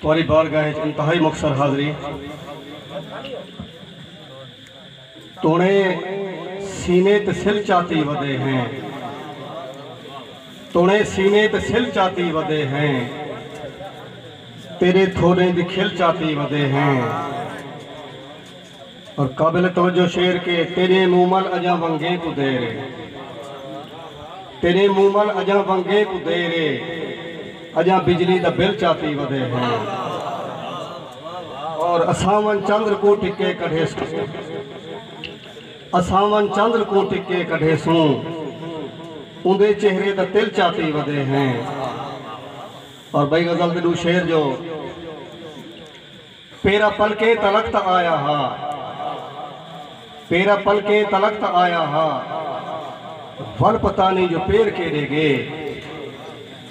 تہاݙی بارگاہ اچ انتہائی مخصر حاضری توݨے سینے تے سل چاتی ودے ہیں توݨے سینے تے سل چاتی ودے ہیں تیݙے تھوݙیں دی کھل چاتی ودے ہیں۔ اور قابل توجہ شعر کہ تیݙے منہ مل اڄاں ونگیں کوں دیر اے تیݙے منہ مل اڄاں ونگیں کوں دیر اے اڄاں بجلی دا بل چاتی ودے ہے اور اساون چندر کوں ٹکے کڈھیسوں اساون چندر کوں ٹکے کڈھیسوں اوندے چہرے دا تل چاتی ودے ہیں اور بھئی غزل دے ݙو شعر جو پیرا پلکے تلخت آیا ہا۔ پیرا پلکے تلخت آیا ہا۔ ول پتہ نئیں جو پیر کیڈے گے۔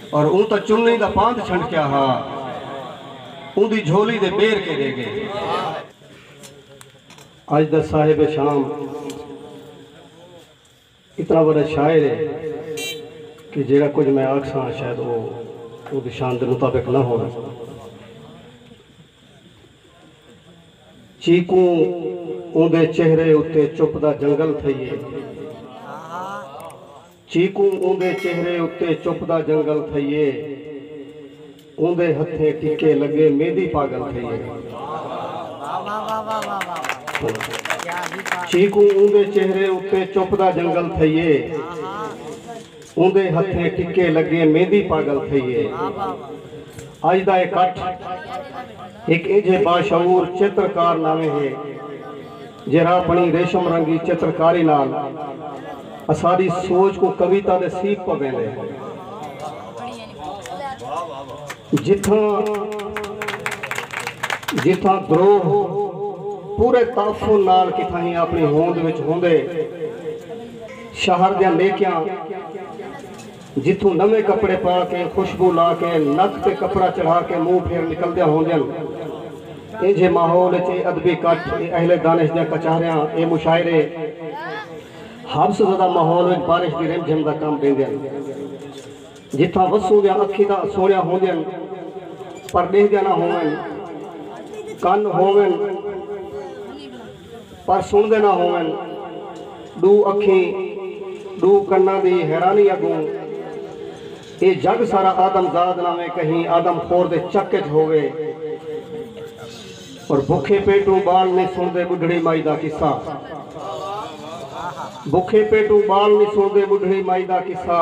اور اوں تاں چنی دا پاند چھنڈکیا ہا۔ اوندی جھولی دے بیر کیڈے گے۔ اج دا صاحب شام۔ اتنا وڈا شاعر اے کہ جیڑھا کجھ میں آکھساں شاید او اوندی شان دے مطابق نہ ہووے۔ چیکوں اوندے چہرے اتے چپ دا جنگل تھئیے۔ چیکوں اوندے چہرے اتے چپ دا جنگل تھئیے۔ اوندے ہتھیں ٹکے لگے میندی پاگل تھئی اے۔ چیکوں اوندے چہرے اتے چپ دا جنگل تھئی اے۔ اوندے ہتھیں ٹکے لگے میندی پاگل تھئی اے۔ اج دا اے کٹھ ہک اینجھے باشعور چترکار ناویں ہے۔ جیرھا اپݨی ریشم رنگی چترکاری نال اساݙی سوچ کوں کویتا دے سیکھ پویندے۔ جتھاں جتھاں گروہ پورے تعفن نال کتھاہیں اپݨی ہوند وچ ہوندے، شہر دیاں نیکیاں۔ جتھوں نویں کپڑے پا کے خوشبو لا کے نک تے کپڑا چڑھا کے منہ پھیر نکلدیاں ہوندین۔ اینجھے ماحول اچ اے ادبی کٹھ، اے اہل دانش دیاں کچہریاں، اے مشاعرے حبس زدہ ماحول وچ بارش دی رم جھم دا کم ڈیندین۔ جتھاں وسوں دیاں اکھیں تاں سوہنیاں ہوندین پر ڈیہدیاں نہ ہوون، کن ہوون، پر سݨدے نہ ہوون۔ ݙو اکھیں ݙو کناں دی حیرانی اڳوں اے جڳ سارا آدم زاد نہ وے کہیں آدم خور دے چک اچ ہووے اور بکھے پیٹوں ٻال نی سݨدے ٻڈھڑی مائی دا قصہ بکھے پیٹوں ٻال نی سݨدے ٻڈھڑی مائی دا قصہ۔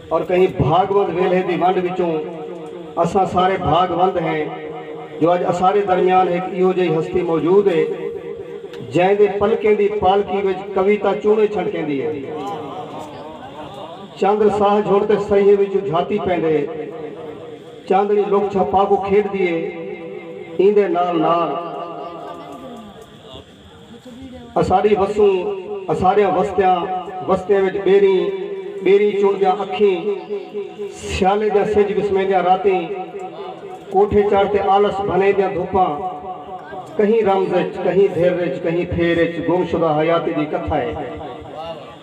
اور کہیں بھاگ وند ویلھے دی ونڈ وچوں اساں سارے بھاگ وند ہیں جو اج اساڈے درمیان ہک ایہو جئی ہستی موجود ہے جئیں دے پلکیں دی پالکی وچ کویتا چونڑے چھنڈکیندی ہے۔ چندر ساہ جھڑ تے سہیے وچوں جھاتی پیندے۔ چاندنی لک چھپا کوں کھیڈدی ہے۔ ایندے نال نال۔ اساݙی وسوں اساݙیاں وستیاں وستیاں وچ ٻیریں ٻیریں چݨدیاں اکھیں سیالے دیاں سجھ وسمیندیاں راتیں کوٹھے چڑھ تے آلس بھنیندیاں دھوپاں کہیں رمز اچ کہیں دھر اچ کہیں پھیر اچ گم شدہ حیاتی دی کتھا اے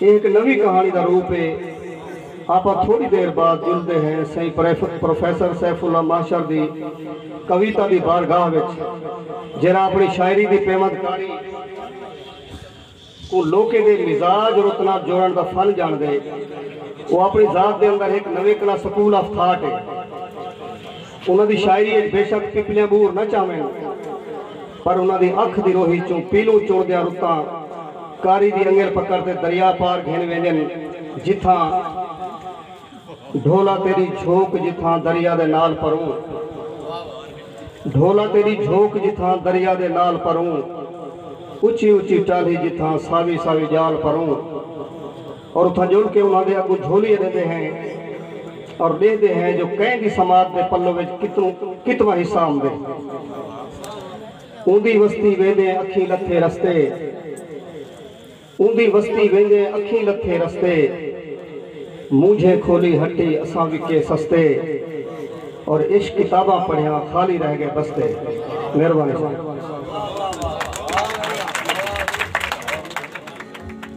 ایہ ہک نویں کہاݨی دا روپ ہے۔ آپاں تھوڑی دیر بعد جلدے ہیں سئیں پروفیسر سیف اللہ مہشر دی کویتا دی بارگاہ وچ جیہڑا اپݨی شاعری دی پیوند کاری کوں لوکیں دے مزاج رت نال جوڑݨ دا فن ڄاݨدے۔ او اپݨی ذات دے اندر ہک نویکلا سکول آف تھاٹ ہے۔ انہاں دی شاعری اچ بے شک پپلیاں بور نہ چاون پر انہاں دی اکھ دی روہی اچوں پیلوں چنڑدیاں رتاں قاری دی انگل پکڑ تے دریا پار گھن ویندین جتھاں ڈھولا تیڈی جھوک جتھاں دریا دے نال پروں ڈھولا تیڈی جھوک جتھاں دریا دے نال پروں اچی اچی ٹالھی جتھاں ساوی ساوی ڄال پروں۔ اور اتھاں جل کے انہاں دے اگوں جھولی ڈیندے ہیں اور ڈیہدے ہیں جو کئیں دی سماعت دے پلو وچ کتوں کتواں حصہ ہوندے۔ اوندی وستی ویندیں اکھیں لتھے رستے اوندی وستی ویندیں اکھیں لتھے رستے مونجھیں کھولی ہٹی اساں وکے سستے اور عشق کتاباں پڑھیاں خالی رہ گئے بستے۔ مہربانی ساڈی۔